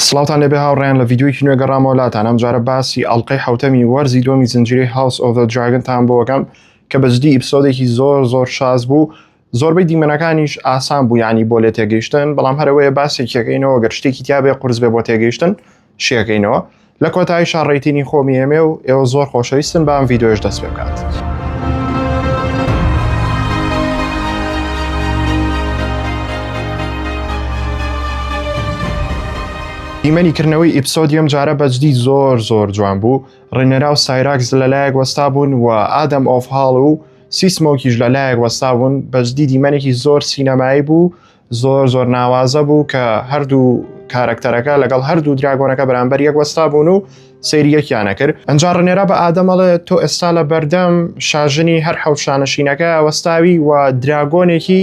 سڵاوتان لێبێ هاوڕێیان لە ڤیدیۆیەکی نوێ گەڕامەوە لاتان ئەم جارە باسی ئەڵلقەی حوتەمی وەرزی دووەمی زنجیرەی هاوس ئۆف ذا دراگنتان بۆ ئەکەم کە بەجدی ئیپسۆدێکی زۆر زۆر شاز بوو زۆربەی دیمەنەکانیش ئاسان بوو ینی بۆ لێ تێگەیشتن بەڵام هەرەوەیە باسێکیەکەینەوە گەر شتێکی تیاابێ قرس بێ بۆ تێگەیشتن شیەکەینەوە لە کۆتایی شاڕێتینی خۆمی ئێمێ و ئێوە زۆر خۆشەویستن بام ڤیددیۆش دەست پێ بکات. دیمەنی کردنەوەی ئیپسۆدی ئەم جارە بەجدی زۆر زۆر جوان بوو ڕێنەرا و سایراکس لەلایەک وەستا بوون و ئادەم ئۆفهاڵ و سیسمۆکیش لەلایەک وەستا بوون بەجدی دیمەنێکی زۆر سینەمایی بوو زۆر زۆر ناوازە بوو کە هەردوو کارەکتەرەکە لەگەڵ هەردوو دراگۆنەکە بەرامبەر یەک وەستا بوون و سەیریەکیانە کرد ئەجا ڕنێرا بە ئادەمەڵێ تۆ ئێستا لە بەردەم شاژنی هەر حەوشانەشینەکە وەستاوی و دراگۆنێکی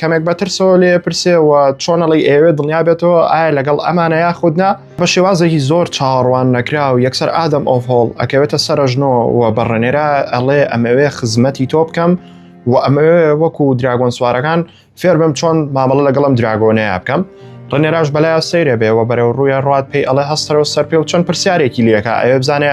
کەمێک بە ترسەوە لێ پرسێ و چۆنەڵی ئێوێ دڵنیا بێتەوە ئایا لەگەڵ ئەمانە یا خودنا بە شێوازێکی زۆر چاڕوان نەکرا و یەکسەر ئادەم ئۆف هۆڵ ئەکەوێتە سەرژنۆ و بەڕێنێرا ئەڵێ ئەمەوێ خزمەتی تۆ بکەم و ئەمەوێ وەکو دراگۆن سوارەکان فێر بم چۆن مامەڵە لەگەڵم دراگۆنەیە بکەم ڕنێراش بەلای سەیرە بێەوە بەرەو ڕوویە ڕات پێی ئەڵێ هەستەرەوە سەر پێ و چەند پرسیارێکی لەکە ئەوێ بزانێ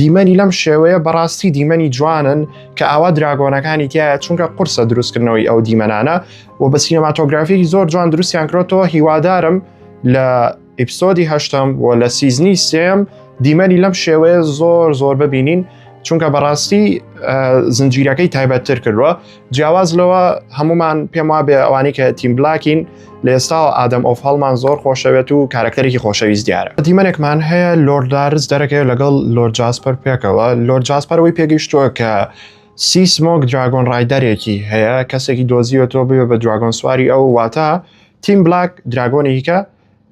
دیمەنی لەم شێوەیە بەڕاستی دیمەنی جوانن کە ئاوا دراگۆنەکانی تایە چونکە قورسە دروستکردنەوەی ئەو دیمەنانە و بە سینەماتۆگرافیی زۆر جوان دروستیان کرۆتەوە هیوادارم لە ئیپسۆدی هەشتم و لە سیزنی سێم دیمەنی لەم شێوەیە زۆر زۆر ببینین چونکە بەڕاستی زنجیرەکەی تایبەتتر کردووە جیاواز لەوە هەمومان پێم وابێ ئەوانی کە تیم بلاکین لە ئێستاوە ئادەم ئۆف هەڵمان زۆر خۆشەوێت و کارکتەرێکی خۆشەویست دیارە دیمەنێکمان هەیە لۆردارز دەرەکەی لەگەڵ لۆر جاسپەر پێکەوە لۆر جاسپەرەوەی پێگەیشتووە کە سی سمۆک دراگۆن ڕایدەرێکی هەیە کەسێکی دۆزیوە تۆ بێ بە دراگۆن سواری ئەو واتە تیم بلاک دراگۆنیکە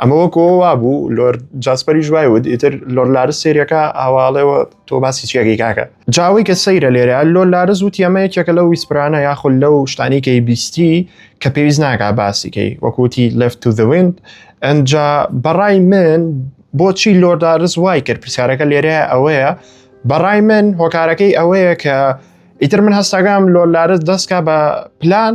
ئەمە وەکەوە وابوو لۆر جاسپەریش وای وت ئیتر لۆر لارز سێریەکە ئاواڵێەوە تۆ باسی چیەکەی کاکە جاوی کە سەیرە لێرە لۆر لارز وت ئەمە یەکێکە لەو ویسپرانە یاخود لەو شتانی کەی بیستی کە پێویست ناگا باسیکەی وەکوتی لفت تو دەوێنند ئەجا بەڕای من بۆچی لۆر لارز وای کرد پرسیارەکە لێرە ئەوەیە بەڕای من هۆکارەکەی ئەوەیە کە ئیتر من هەستاگام لۆر لارز دەستکە بە پلان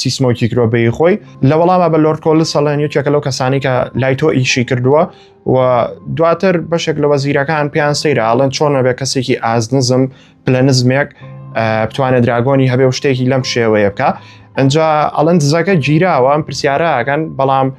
سیسمۆکی کرۆبەی خۆی لە وەڵامە بە لۆرکۆل سەڵێن یەکێکە لەو کەسانی کە لای تۆ ئیشی کردووە و دواتر بەشێک لە وەزیرەکان پێیان سەیرە ئاڵێن چۆنە بێ کەسێکی ئازنزم پلە نزمێک بتوانێت دراگۆنی هەبێ و شتێکی لەم شێوەیە بکە ئەجا ئەڵەن دزەکە گیراوە ئەم پرسیارەکەن بەڵام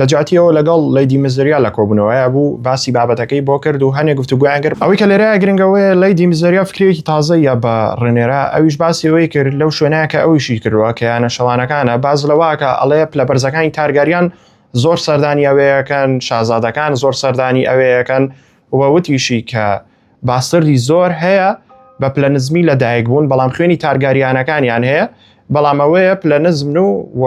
لەجیاتی ئەوە لەگەڵ لەیدی مزریا لە کۆبوونەوەیە بوو باسی بابەتەکەی بۆ کرد و هەنێ گفتوگویان کرد ئەوەی کە لێرەیە گرنگەوەیە لەیدی مزریا فکرێکی تازە یا بە ڕێنێرا ئەویش باسی ئەوەی کرد لەو شوێنەیە کە ئەویشی کردووە کە یانە شەوانەکانە باز لەواکە ئەڵەیە پلە بەرزەکانی تارگاریان زۆر سەردانی ئەوەیەکەن شازادەکان زۆر سەردانی ئەوەیەکەن ووتیشی کە باستردی زۆر هەیە بە پلە نزمی لە دایک بوون بەڵام خوێنی تارگاریانەکانیان هەیە بەڵام ئەوەیە پلە نزمن و و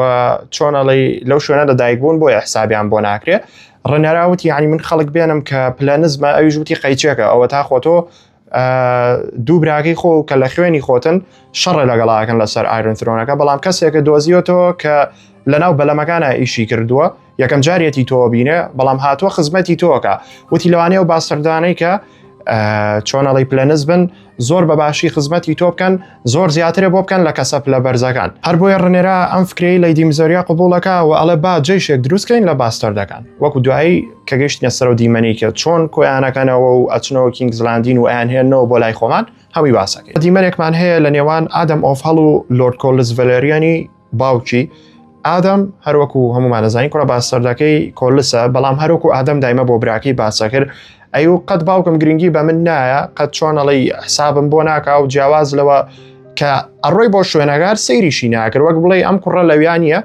چۆنەڵی لەو شوێنە لە دایک بوون بۆ حسابیان بۆ ناکرێت ڕنەراوتی ینی من خەڵک بێنم کە پلە نزمە ئەویش وتی قەیچێکە ئەوە تا خۆتۆ دوو براگەی خۆ کە لە خوێنی خۆتن شەڕە لەگەڵاکەن لەسەر ئایرنترۆنەکە بەڵام کەسێکە دۆزیۆتەوە کە لەناو بەلەمەکانە ئیشی کردووە یەکەم جارێتی تۆ بینێ بەڵام هاتووە خزمەتی تۆکە وتی لەوانەیە و باسەردانەی کە چۆنەڵی پلەنز بن زۆر بە باشی خزمەتی تۆ بکەن زۆر زیاترە بۆ بکەن لە کەسە پلە بەرزەکان هەر بۆیە ڕنێرا ئەم فکری لە دیمزۆریا قوبولەکە و ئەڵێ با جێشێک دروستکەین لە باستەر دەکەن وەکو دوایی کە گەشتە سەر و دیمەنی کە چۆن کۆیانەکەنەوە و ئەچنەوە کینگ زلاندین و ئەیان هێنەوە بۆ لای خۆمان هەوی باسەکە دیمەرێکمان هەیە لە نێوان ئادەم ئۆف هەڵ و لۆرد کۆلز ڤەلریانی باوکی ئادەم هەروەکو هەمومان زانین کوڕە باسەردەکەی کۆلسە بەڵام هەروەکو ئادەم دایمە بۆ براکەی باسە کرد ئەی و قەت باوکم گرنگی بە من نایە قەت چۆنەڵی حسابم بۆ ناکا و جیاواز لەوە کە ئەڕۆی بۆ شوێنەگار سەیریشی ناکرد وەک بڵێ ئەم کوڕە لەویان نیە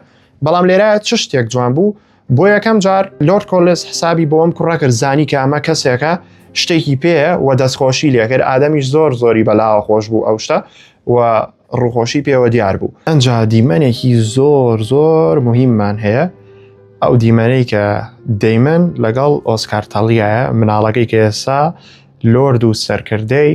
بەڵام لێرە چ شتێک جوان بوو بۆ یەکەم جار لۆرد کۆلس حسابی بۆ ئەم کوڕە کرد زانی کە ئەمە کەسێکە شتێکی پێەیە و دەستخۆشی لێکرد ئادەمیش زۆر زۆری بەلاوە خۆش بوو ئەو شتە و ڕوخۆشی پێوە دیار بوو ئەجا دیمەنێکی زۆر زۆر مهممان هەیە ئەو دیمەنەی کە دەیمەن لەگەڵ ئۆسکارتەڵیایە مناڵەکەی کە ئێسا لۆرد و سەرکردەی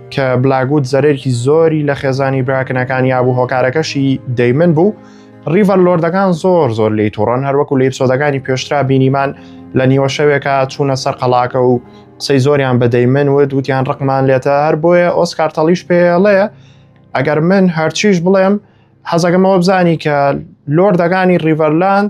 کە بلاگووت زەرێکی زۆری لە خێزانی براکنەکان یابوو هۆکارەکەشی دەیمن بوو ڕیڤەر لۆردەکان زۆر زۆر لی تووڕەن هەروەکو لە ئیپسۆدەکانی پێشترا بینیمان لە نیوە شەوێکە چوونە سەر قەڵاکە و قسەی زۆریان بەدەیمن و دووتیان ڕقمان لێتە هەر بۆیە ئۆسکارتەڵیش پێڵەیە ئەگەر من هەرچیش بڵێم حەزەکەمەوە بزانی کە لۆردەکانی ڕیڤەرلاند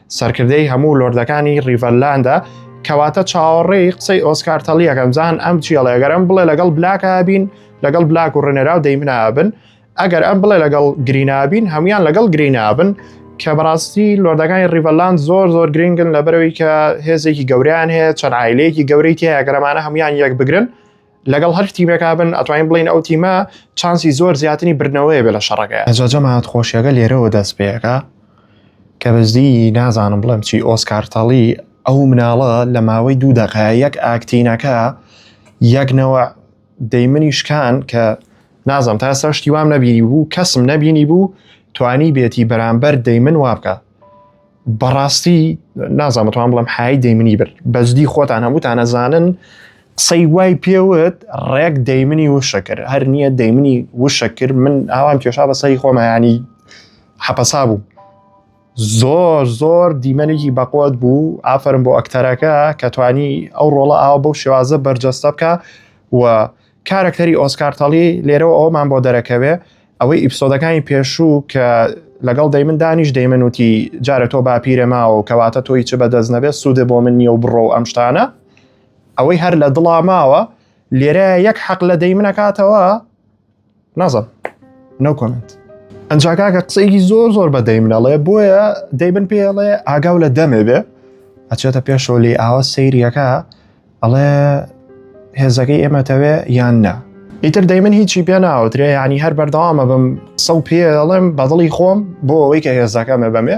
سەرکردەی هەموو لۆردەکانی ڕیڤەرلاندە کەواتە چاوەڕێی قسەی ئۆسکار تەڵیەکەم زان ئەم جیێڵێگەرم بڵێ لەگەڵ بلاکە بین لەگەڵ بلاک و ڕێنێرا و دەیمنابن ئەگەر ئەم بڵێ لەگەڵ گرینابین هەموان لەگەڵ گرینابن کە بەڕاستی لۆردەکانی ڕیڤەلاند زۆر زۆر گرنگن لە بەرەوەی کە هێزێکی گەوریان هەیە چەند عیلەیەکی گەورەی تیاگەرەمانە هەموان یەک بگرن لەگەڵ هەر تیمێکا بن ئەتوانین بڵین ئەو تیمە چانسی زۆر زیاتری بردنەوەی بێ لە شەڕەکە ئەجاجەمات خۆشیەکە لێرەوە دەست پێەکە کە بەزدی نازانم بڵێم چی ئۆسکارتەڵی ئەو مناڵە لە ماوەی دوو دەقە یەک ئاکتینەکە یەکنەوە دەیمنی شکان کە نازم تا سەر شتی وام نەبیری بوو کەسم نەبینی بوو توانی بێتی بەرامبەر دەیمن وابکە بەڕاستی نازانم توان بڵم حای دەیمنی برد بەجددی خۆتان هەمووتان ئەزانن قسەی وای پێوت ڕێک دەیمنی وشە کرد هەر نییە دەیمنی وشە کرد من ئاوام کێشا بە سەری خۆمەیانی حەپەسا بوو زۆر زۆر دیمەنێکی بەقوت بوو ئافرم بۆ ئەکتەرەکە کە توانی ئەو ڕۆڵە ئاو بەو شێوازە بەرجەستە بکە و کارەکتەری ئۆسکار تەڵی لێرەوە ئەومان بۆ دەرەکەوێ ئەوەی ئیپسۆدەکانی پێشوو کە لەگەڵ دەیمن دانیش دەیمن وتی جارە تۆ باپیرە ماوە کەواتە تۆی چ بەدەست نەبێت سوودە بۆ من نیە و بڕۆ و ئەم شتانە ئەوەی هەر لە دڵا ماوە لێرە یەک حەق لە دەیمنەکاتەوە نازم نو کۆمنت ئەنجاکاکە قسەیەکی زۆر زۆر بە دەیمنەڵێ بۆیە دەیبن پێڵێ ئاگاو لە دەمێ بێ ئەچێتە پێشەوە لی ئاوە سەیریەکە ئەڵێ هێزەکەی ئێمەتەوێ یان نا ئیتر دەی من هیچی پێ ناوترێ ینی هەر بەردەوامە بم قسە و پێڵێم بەدڵی خۆم بۆ ئەوەی کە هێزەکەمە بەمێ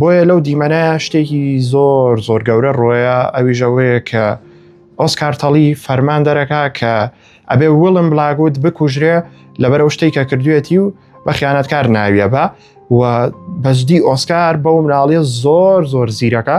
بۆیە لەو دیمەنەیە شتێکی زۆر زۆر گەورە ڕۆیە ئەویش ئەوەیە کە ئۆسکارتەڵی فەرمان دەرەکە کە ئەبێ وڵم بلاگوت بکوژرێ لەبەر ئەو شتێک کە کردوێتی و بە خیانەتکار ناویە بە و بەجددی ئۆسکار بەو مناڵیە زۆر زۆر زیرەکە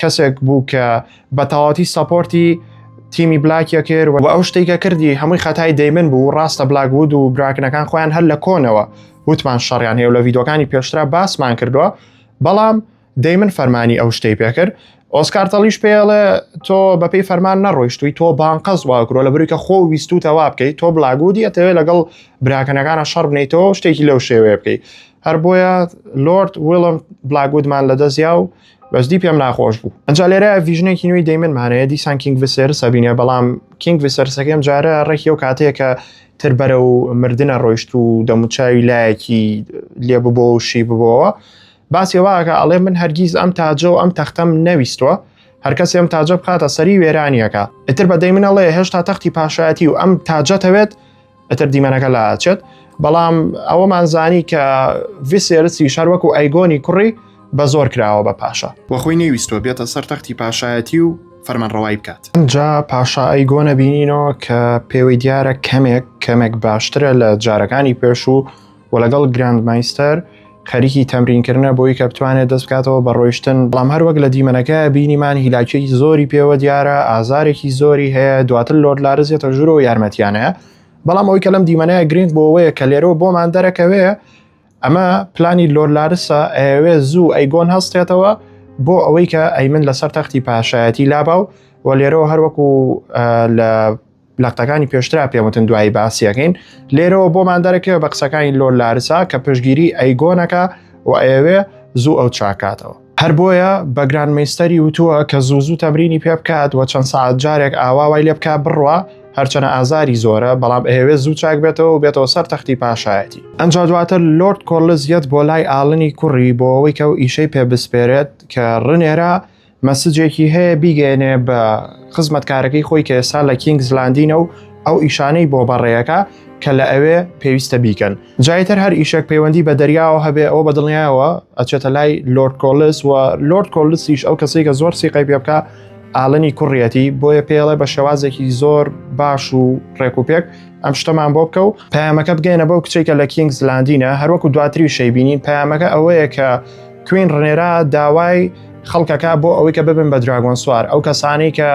کەسێک بوو کە بە تەواتی سەپۆرتی تیمی بلاکیە کرد و ئەو شتێکە کردی هەمووی خەتای دەیمن بوو ڕاستە بلاک بود و براکنەکان خۆیان هەر لە کۆنەوە وتمان شەڕیان هەیە لە ڤیدۆکانی پێشترا باسمان کردووە بەڵام دەیمن فەرمانی ئەو شتەی پێکرد ئۆسکارتەڵیش پێڵێ تۆ بەپی فەرمان نەڕۆیشتوی تۆ بانقەز واگرۆ لە برویکە خۆ ویست و تەوا بکەیت تۆ بلاگودی ئەتەوێت لەگەڵ براکەنەکانە شەڕ بنیتەوە شتێکی لەو شێوەیە بکەیت هەر بۆیە لۆرد وڵم بلاگودمان لە دەستیا و بەجدی پێم ناخۆش بوو ئەجا لێرە ڤژنێکی نوێی دەیمن مانەیە دیسان کینگ وسێر سەبینە بەڵام کینگ وسەرسەکەم جارە ڕێکی و کاتەیە کە تر بەرە و مردە ڕۆیشت و دەموچاوی لایەکی لێ ببۆ و شی ببەوە باسی واکە ئەڵێ من هەرگیز ئەم تاجە و ئەم تەختەم نەویستوە هەرکەسی ئەم تاجە بخاتە سەری وێرانیەکە ئیتر بەدەی منەڵێ هێشتا تەختی پاشایەتی و ئەم تاجەتەوێت ئەتر دیمەنەکە لا ئاچێت بەڵام ئەوەمان زانی کە ڤسێرسی شار وەکو ئەیگۆنی کوڕی بە زۆر کراوە بە پاشا وەخۆی نەویستۆ بێتە سەر تەختی پاشایەتی و فەرمانڕەوای بکات جا پاشا ئەیگۆنە بینینەوە کە پێوەی دیارە کەمێک کەمێک باشترە لە جارەکانی پێش و و لەگەڵ گراند مایستەر خەریکی تەمرینکردە بۆی کە بتوانێت دەست بکاتەوە بە ڕۆیشتن بەڵام هەر وەک لە دیمەنەکە بینیمان هیلاکیی زۆری پێوە دیارە ئازارێکی زۆری هەیە دواتر لۆر لارزیێتە ژورۆ یارمەتیانەیە بەڵام ئەوی کە لەم دیمەنەیە گرنگ بۆەوەیە کە لێرەوە بۆمان دەرەکەوێ ئەمە پلانی لۆر لارسە ئەوێ زوو ئەیگۆن هەستێتەوە بۆ ئەوەی کە ئەی من لەسەر تەختی پاشایەتی لاباو و لێرەوە هەروەکو لە لەقتەکانی پێشترا پێموتن دوایی باسیەکەین لێرەوە بۆمان دەرەکەوە بە قسەکانی لۆر لارسا کە پشگیری ئەیگۆنەکە و ئەوێ زوو ئەو چاکاتەوە هەر بۆیە بەگران میستەری وتووە کە زوو زوو تەمرینی پێ بکات و چەند سعات جارێک ئاواوای لێ بکە بڕە هەرچەنە ئازاری زۆرە بەڵام ئەهوێ زوو چاک بێتەوە بێتەوە سەر تەختی پاشایەتی ئەنجا دواتر لۆرد کۆرلز یەت بۆ لای ئاڵنی کوڕی بۆ ئەوەی کە و ئیشەی پێ بسپێرێت کە ڕنێرە مەسجێکی هەیە بیگەێنێ بە خزمەتکارەکەی خۆی کە ئێستا لە کینگ زلاندینە و ئەو ئیشانەی بۆ بەڕێیەکە کە لە ئەوێ پێویستە بیکەن جایتر هەر ئیشێک پەیوەندی بە دەریاوە هەبێ ئەو بە دڵنیایەوە ئەچێتە لای لۆرد کۆلس و لۆرد کۆلسیش ئەو کەسی کە زۆر سیقی پێ بکە ئالنی کوڕیەتی بۆیە پێڵێ بە شێوازێکی زۆر باش و ڕێکوپێک ئەم شتەمان بۆ بکە و پامەکە بگەینە بەو کچێکە لە کینگ زلاندینە هەروەکو دواتری شەیبینین پامەکە ئەوەیە کە کوین ڕێرا داوای خەڵکەکە بۆ ئەوەی کە ببن بە دراگۆن سوار ئەو کەسانی کە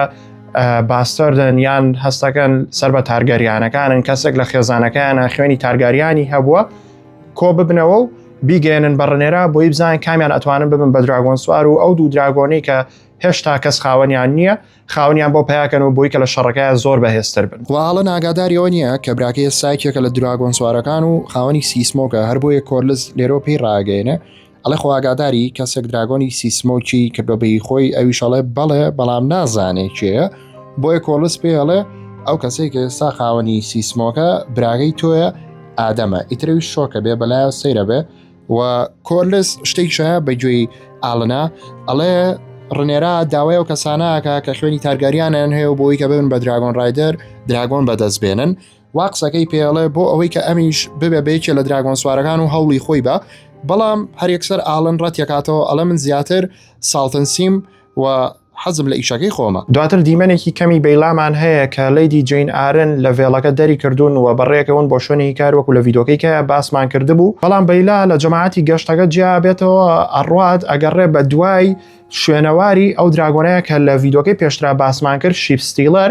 باستەردن یان هەستەکەن سەر بە تارگەریانەکانن کەسێک لە خێزانەکەیانە خوێنی تارگاریانی هەبووە کۆ ببنەوە و بیگەێنن بەڕنێرا بۆی بزان کامیان ئەتوانن ببن بە دراگۆن سوار و ئەو دوو دراگۆنی کە هێشتا کەس خاوەنیان نییە خاونیان بۆ پیاکەن و بۆی کە لە شەڕەکە زۆر بەهێزتر بن واڵە ناگاداریەوە نییە کە براکەیە سایکێکە لە دراگۆن سوارەکان و خاوەنی سیسمۆکە هەر بۆیە کۆرلز لێرۆ پێی ڕاگەێنە ئەڵێ خۆ ئاگاداری کەسێک دراگۆنی سیسمۆکی کردۆ بەی خۆی ئەویش ئەڵێ بەڵێ بەڵام نازانێ کێە بۆیە کۆڵس پێ ئەڵێ ئەو کەسێک ئێستا خاوەنی سیسمۆکە براگەی تۆیە ئادەمە ئیترەوی شۆکە بێ بەلایە سەیرە بێ و کۆرلس شتێک شایە بەگوێی ئاڵنا ئەڵێ ڕنێرا داوای ئەو کەسانەکە کە خوێنی تارگەریانیان هەیە و بۆی کە ببن بە دراگۆن ڕایدەر دراگۆن بەدەست بێنن وا قسەکەی پێڵێ بۆ ئەوەی کە ئەمیش ببێ بەیەکێ لە دراگۆن سوارەکان و هەوڵی خۆی بە بەڵام هەرێکسەر ئاڵن ڕەتیەکاتەوە ئەڵە من زیاتر ساڵتنسیم و حەزم لە ئیشەکەی خۆمە دواتر دیمەنێکی کەمی بەیلامان هەیە کە لەیدی جین ئارن لە ڤێڵەکە دەری کردوون و بەڕێکەون بۆ شوێنی کار وەکو لە ڤیدۆکەیکە باسمان کردبوو بەڵام بەیلا لە جەماعەتی گەشتەکە جیا بێتەوە ئەڕات ئەگەڕێ بە دوای شوێنەواری ئەو دراگۆنەیە کە لە ڤیدۆکەی پێشترا باسمان کرد شیپستیلەر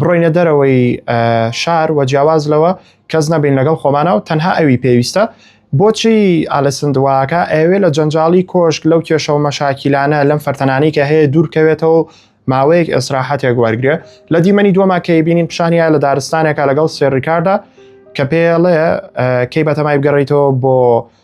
بڕۆینە دەرەوەی شار وە جیاواز لەوە کەس نەبین لەگەڵ خۆمانە و تەنها ئەوی پێویستە بۆچی ئالەسندواکە ئەوێ لە جەنجاڵی کۆشک لەو کێشە و مەشاکیلانە لەم فەرتەنانی کە هەیە دوورکەوێتەوە ماوەیەک ئێسراحەتێک وەرگێ لە دیمەنی دووەما کەی بینین پیشانیا لە دارستانێکە لەگەڵ سێریکاردا کە پێڵێ کەی بەتەمای بگەڕیتەوە بۆ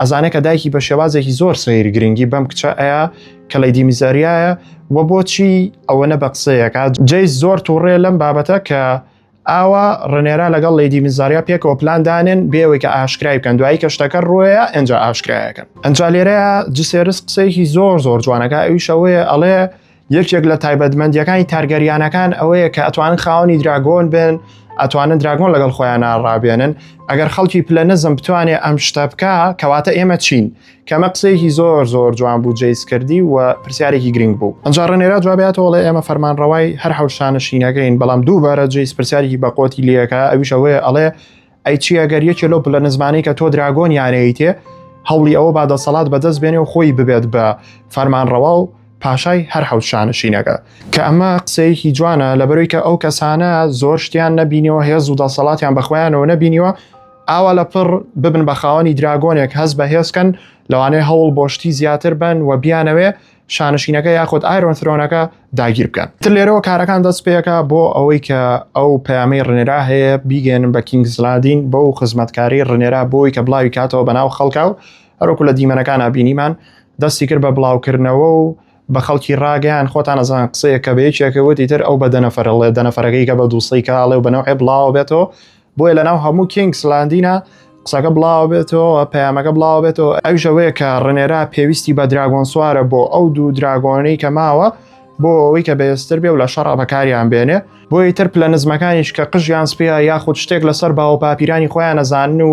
ئەزانێ کە دایکی بە شێوازێکی زۆر سەیر گرنگی بەم کچە ئەیە کە لەی دیمیزەریایە و بۆچی ئەوەنە بە قسەیەکە جێ زۆر تووڕێ لەم بابەتە کە ئاوا ڕنێرا لەگەڵ لەیدی میزاریا پێکەوە پلاندانێن بێەوەی کە ئاشکرای بکەن دوایی کە شتەکە ڕۆیە ئەجا ئاشکرایەکەن ئەجا لێرەیە جسێرس قسەیەکی زۆر زۆر جوانەکە ئەویشەوەیە ئەڵێ یەکێک لە تایبەتمەندیەکانی تارگەریانەکان ئەوەیە کە ئەتوانن خاوەنی دراگۆن بن ئەتوانن دراگۆن لەگەڵ خۆیان ناڕابێنن ئەگەر خەڵکی پلە نزم بتوانێ ئەم شتە بکە کەواتە ئێمە چین کەمە قسەیەکی زۆر زۆر جوان بوو جیس کردی و پرسیارێکی گرنگ بوو ئەنجا ڕێنێرا جواباتەوەڵێ ئێمە فەرمان ڕەوای هەر حوشانە شینەکەین بەڵام دووبارە جیس پرسیارێکی بەقۆتی لەکە ئەویشەوەی ئەڵێ ئەی چی ئەگەر یەکێ لەو پلە نزمانەی کە تۆ دراگۆن یانەیتێ هەوڵی ئەوە با دەسەڵات بەدەست بێنێ و خۆی ببێت بە فەرمانڕەوا و پاشای هەر حەوت شانشینەکە کە ئەمە قسەیەکی جوانە لە بەروی کە ئەو کەسانە زۆر شتیان نەبینیەوە هێز و دەسەڵاتیان بەخۆیانەوە نەبینیوە ئاوا لە پڕ ببن بە خاوەنی دراگۆنێک هەز بە هێزکەن لەوانەیە هەوڵ بۆشتی زیاتر بن و بیانەوێ شانشینەکە یاخود ئایرۆن ثرۆنەکە داگیر بکەن تر لێرەوە کارەکان دەست پێەکە بۆ ئەوەی کە ئەو پامەی ڕنێرا هەیە بیگەێنن بە کینگزلادین بۆ و خزمەتکاری ڕنێرا بۆی کە بڵاوی کاتەوە بەناو خەڵکە و هەروکو لە دیمەنەکان بینیمان دەستی کرد بە بڵاوکردنەوە و بە خەڵکی ڕاگەیان خۆتان ئەزان قسەیە کە بەیەکێکەوەتی تر ئەو بە دەنەفرەڵێ دەنەفرەکەی کە بە دووسەی کاڵێ و بەنەوەی بڵاوە بێتەوە بۆیە لەناو هەموو کینگس لاندینە قسەکە بڵاوە بێتەوە پەیامەکە بڵاوە بێتەوە ئەو ژەوەیە کە ڕنێرا پێویستی بە دراگۆن سوارە بۆ ئەو دوو دراگۆنەی کە ماوە بۆ ئەوەی کە بەێستر بێ و لە شەڕا بەکاریان بێنێ بۆی تر پلە نزمەکانیش کە قژیان سپیا یاخود شتێک لەسەر باوە پاپیرانی خۆیان نەزانن و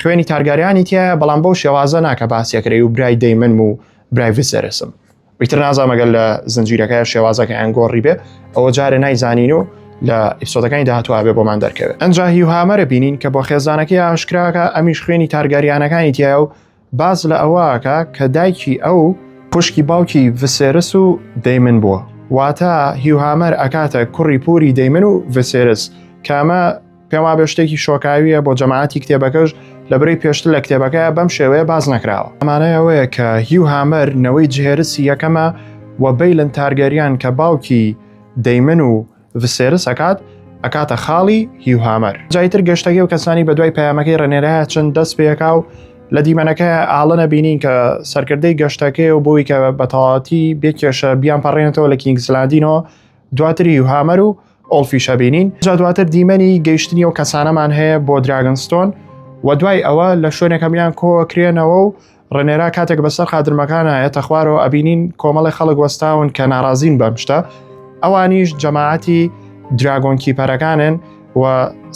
خوێنی تارگاریانی تایە بەڵام بەو شێوازە ناکە باسیەکرێ و برای دەیمن و برای سەرسم ئیتر نازانمەگەل لە زنجیرەکە شێوازەکە ئەن گۆڕی بێ ئەوە جارە نایزانین و لە ئیسۆدەکانی داهاتوابێ بۆمان دەرکەوێت ئەنجا هیوهامەرە بینین کە بۆ خێزانەکەی ئاشکراکە ئەمیش خوێنی تارگاریانەکانی تیا و باس لە ئەوەکە کە دایکی ئەو خوشکی باوکی ڤسێرس و دەیمن بووە واتە هیوهامەر ئەکاتە کوڕی پوری دەیمن و ڤسێرس کامە پێم وابێ شتێکی شۆکاویە بۆ جەماعەتی کتێبەکەش لە بری پێشتر لە کتێبەکە بەم شێوەیە باز نەکراوە ئەمانەیەوەیە کە هیو هامەر نەوەی جهێرسی یەکەمە و بەیلن تارگەریان کە باوکی دەیمن و ڤسێرس ئەکات ئەکاتە خاڵی هیوهامەر جایتر گەشتەکە و کەسانی بە دوای پەیامەکەی ڕێنێرایە چەند دەست پێکا و لە دیمەنەکە ئاڵەنە بینین کە سەرکردەی گەشتەکەی و بۆی کە بەتەواتی بێکێشە بیان پەڕێنێتەوە لە کینگسلاندینەوە دواتری و هامەر و ئۆلفیشە بینین جا دواتر دیمەنی گەیشتنی و کەسانەمان هەیە بۆ دراگنستۆن و دوای ئەوە لە شوێنێکەمیان کۆکرێنەوە و ڕێنێرا کاتێک بەسەر خادرمەکانە ئێتە خوارەوە ئەبینین کۆمەڵی خەڵک وەستاون کە ناڕازین بەم شتە ئەوانیش جەماعەتی دراگۆنکی پەرەکانن و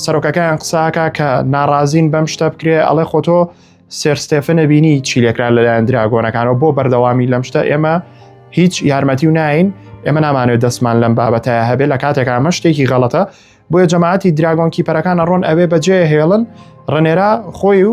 سەرۆکەکەیان قساکە کە ناڕازین بەم شتە بکرێ ئەڵێ خۆتۆ سێرستێفنە بینی چی لێکرا لەلایەن دراگۆنەکانەوە بۆ بەردەوامی لەم شتە ئێمە هیچ یارمەتی و ناین ئێمە نامانوێت دەستمان لەم بابەتەیە هەبێ لە کاتێک ئامە شتێکی غەڵەتە بۆیە جەماعەتی دراگۆنکی پەرەکانە ڕۆن ئەوێ بەجێ هێڵن ڕنێرا خۆی و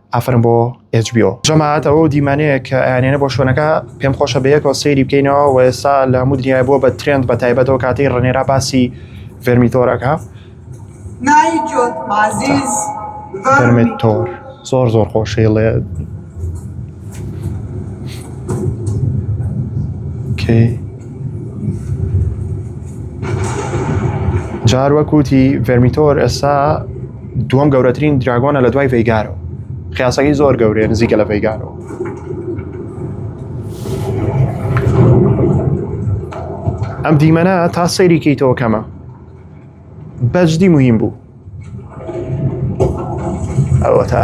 ئافەرم بۆ HBO جەماعەت ئەوە دیمانەیە کە ئەیانێنە بۆ شوێنەکە پێم خۆشە بەیەکەوە سەیری بکەینەوە و ئێستا لە هەموو دنیای بۆ بە ترێند بە تایبەتەوە کاتەی ڕنێرا باسی ڤێرمیتۆرەکە ڤێرمیتۆر زۆر زۆر خۆشەیڵێ جار وەکوتی ڤێرمیتۆر ئێستا دووەم گەورەترین دراگۆنە لە دوای ڤیگارەوە خیاسەکەی زۆر گەورەیە نزیکە لە ڤیگارەوە ئەم دیمەنە تا سەیری کەیتەوە کەمە بەجدی مهم بوو ئەوە تا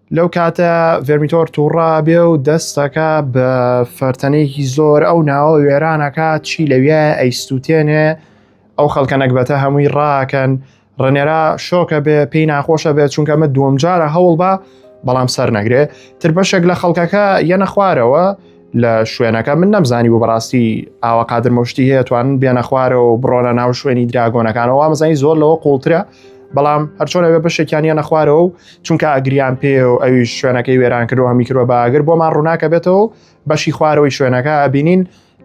لەو کاتە ڤێرمیتۆر تووڕا بێ و دەستەکە بە فەرتەنێکی زۆر ئەو ناوە وێرانەکە چی لەویە ئەیسووتێنێ ئەو خەڵکە نەگبەتە هەمووی ڕاکەن ڕنێرا شۆکە بێ پێی ناخۆشە بێت چونکە من دووەم جارە هەوڵ بە بەڵام سەر نەگرێ تر بەشێک لە خەڵکەکە یەنە خوارەوە لە شوێنەکە من نەمزانی بۆ بەڕاستی ئاوا قادر مشتی هەیە توان بێنە خوارەوە و بڕۆنە ناو شوێنی دراگۆنەکانەوە وامزانی زۆر لەوە قوڵترە بەڵام هەرچۆنەوە بەشێکیان یەنە خوارەوە و چونکە ئەگریان پێ و ئەویش شوێنەکەی وێران کردو هەمی کردوە باگر بۆمان ڕووناکە بێتەوە بەشی خوارەوەی شوێنەکە ئەبینین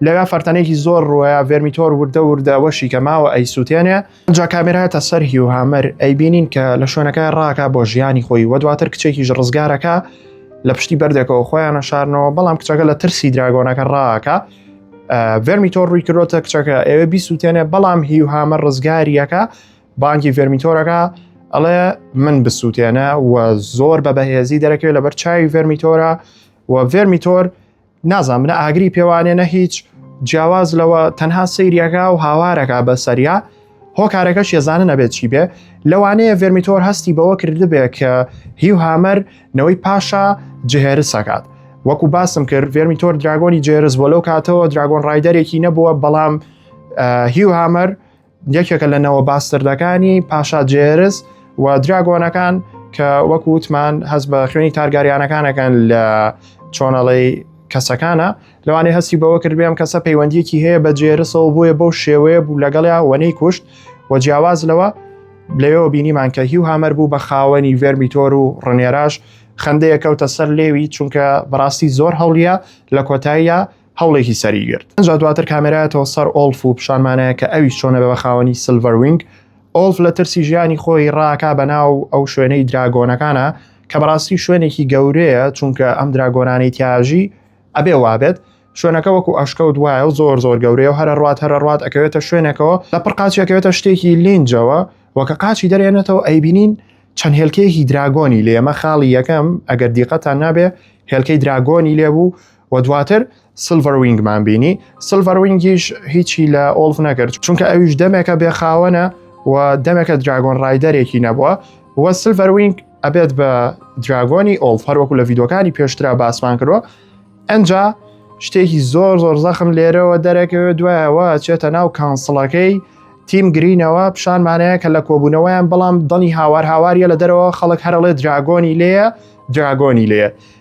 لەگا فەرتەنێکی زۆر ڕوەیە ڤێرمیتۆر وردە وردەوەشی کە ماوە ئەی سووتێنێ جا کامێراتە سەر هی و هامەر ئەی بینین کە لە شوێنەکە ڕاکە بۆ ژیانی خۆی وە دواتر کچێکیش ڕزگارەکە لە پشتی بەردێکەوە خۆیانە شارنەوە بەڵام کچەکە لە ترسی دراگۆنەکە ڕاکە ڤەرمیتۆر ڕووی کرۆتە کچەکە ئێوە بیسووتێنێ بەڵام هی و هامە ڕزگاریەکە بانگی ڤێرمیتۆرەکە ئەڵێ من بسووتێنە و زۆر بە بەهێزی دەرەکەوێت لەبەر چاوی ڤێرمیتۆرە و ڤێرمیتۆر نازان منە ئاگری پێوانێ نە هیچ جیاواز لەوە تەنها سەیریەکە و هاوارەکە بە سەریا هۆکارەکە شێزانە نەبێت چی بێ لەوانەیە ڤێرمیتۆر هەستی بەوە کردبێت کە هی و هامەر نەوەی پاشا جهێرسەکات وەکو باسم کرد ڤێرمیتۆر دراگۆنی جێرز بۆ لەو کاتەوە دراگۆن ڕایدەرێکی نەبووە بەڵام هی و هامەر یەکێکە لە نەوە باستردەکانی پاشا جێرز و دراگۆنەکان کە وەکو وتمان هەست بە خوێنی تارگاریانەکانەکان لە چۆنەڵی کەسەکانە لەوانەیە هەستی بەوە کرد بێم کەسە پەیوەندیەکی هەیە بە جێرسەوە بۆیە بەو شێوەیە بوو لەگەڵیا وەنەی کوشت و جیاواز لەوە لەوێەوە بینیمان کە هی و هامەر بوو بە خاوەنی ڤێرمیتۆر و ڕنێراش خندەیە کەوتە سەر لێوی چونکە بەڕاستی زۆر هەڵیە لە کۆتاییە هەوڵێکی سەری گرت ئەجا دواتر کامێرایەتەوە سەر ئۆلف و پیشانمانەیە کە ئەوی چۆنە بە بەخاوەنی سلڤەرینگ ئۆلف لە ترسی ژیانی خۆی ڕاکا بەناو ئەو شوێنەی دراگۆنەکانە کە بەڕاستی شوێنێکی گەورەیە چونکە ئەم دراگۆنانەی تیاژی ئەبێ وابێت شوێنەکە وەکو ئەشکەوت وایە و زۆر زۆر گەورەیە و هەرە ڕات هەرە ڕات ئەکەوێتە شوێنێکەوە لە پڕقاچەکەوێتە شتێکی لینجەوە وەکە قاچی دەرێنێتەوە ئەیبینین چەند هێلکەیەکی دراگۆنی لێمە خاڵی یەکەم ئەگەر دیقەتان نابێ هێلکەی دراگۆنی لێبوو و دواتر سلڤەروینگمان بینی سلڤەروینگیش هیچی لە ئۆڵف نەکرد چونکە ئەویش دەمێکە بێخاوەنە و دەمێکە دراگۆن ڕایدەرێکی نەبووە و سلڤەروینگ ئەبێت بە دراگۆنی ئۆڵف هەروەکو لە یددیوەکانی پێشترا باسمان کردوە ئەجا شتێکی زۆر زۆر زەخم لێرەوە دەرەکەوێت دوایەوە چێتە ناو کانسڵەکەی تیم گرینەوە پیشانمانەیە کە لە کۆبوونەوەیان بەڵام دڵنی هاوار هاواریە لە دەرەوە خەڵک هەرڵێ دراگۆنی لێە دراگۆنی لێە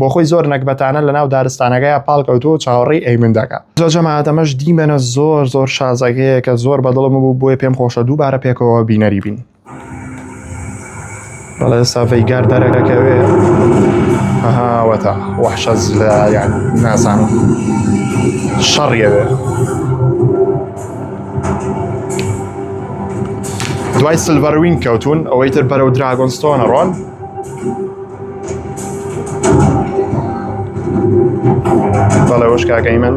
بۆ خۆی زۆر نەکبەتانە لە ناو دارستانەکەی پاڵکەوتو و چاوەڕی ئەیمن دەکە زۆر جەماعاتەمەش دیمەنە زۆر زۆر شازەگەیە کە زۆر بەدڵم بوو بۆیە پێم خۆشە دووبارە پێکەوە بینەری بین بەڵێ سافەی گار دەرەکەکەوێ هاوەتا وەحشە لە یان نازانم شەڕیەوێ دوای سلڤەروین کەوتون ئەوەی تر بەرەو دراگۆنستۆنە ڕۆن بەڵێ وەش کاکەی من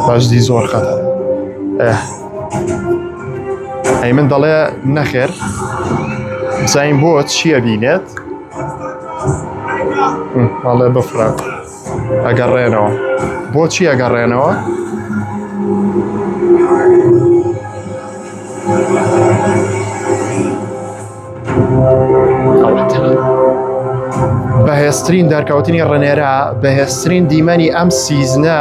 بەشدی زۆر خەتە ئەی من دەڵێ نەخێر زین بۆ چییە بینێت بەڵێ بفرات. ئەگەڕێنەوە بۆچی ئەگەڕێنەوە؟ بەهێزترین دەرکەوتنی ڕنێرا بەهێزترین دیمەنی ئەم سیزنە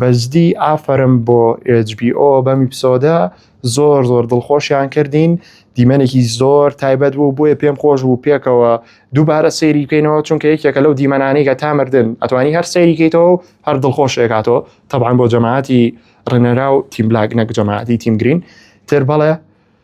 بەجدی ئافەرم بۆ HBO بەم ئیپسۆدە زۆر زۆر دڵخۆشیان کردین دیمەنێکی زۆر تایبەت بوو بۆیە پێم خۆش بوو پێکەوە دووبارە سەیری بکەینەوە چونکە یەکێکە لەو دیمەنانەی کە تا مردن ئەتوانی هەر سەیری کەیتەوە و هەر دڵخۆش ێکاتەوە طبعاان بۆ جەماعتی ڕنەرا و تیم بلاک نەک جەماعتی تیم گرین تر بەڵێ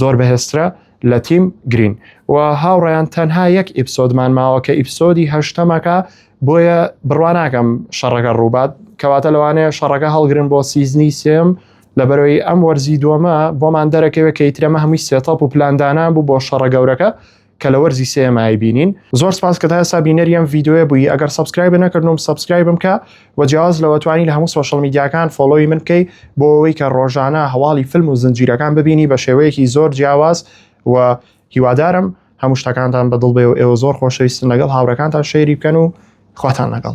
زۆر بەهێزترە لە تیم گرین و هاوڕیان تەنها یەک ئیپسۆدمان ماوە کە ئیپسۆدی هەشتەمەکە بۆیە بڕواناکەم شەڕەکە ڕووبات کەواتە لەوانەیە شەڕەکە هەڵگرن بۆ سیزنی سێم لە بەرەوەی ئەم وەرزی دووەمە بۆمان دەرەکەوێت کە ئیترەمە هەمووی سێتاپ و پلاندانان بوو بۆ شەڕە گەورەکە کە لە وەرزی سێم ئای بینین زۆر سپاس کە تا ئێستا بینەری ئەم ڤیددیوە بووی ئەگەر سبسکرایب نەکردم سبسکرایبم کە وە جیاواز لەوە توانی لە هەموو سۆشڵ میدیاکان فۆلۆی من بکەی بۆ ئەوەی کە ڕۆژانە هەواڵی فیلم و زنجیرەکان ببینی بە شێوەیەکی زۆر جیاواز و هیوادارم هەموو شتەکانتان بەدڵ بێ و ئێوە زۆر خۆشەویستن لەگەڵ هاوڕەکانتان شەیری بکەن و خواتان لەگەڵ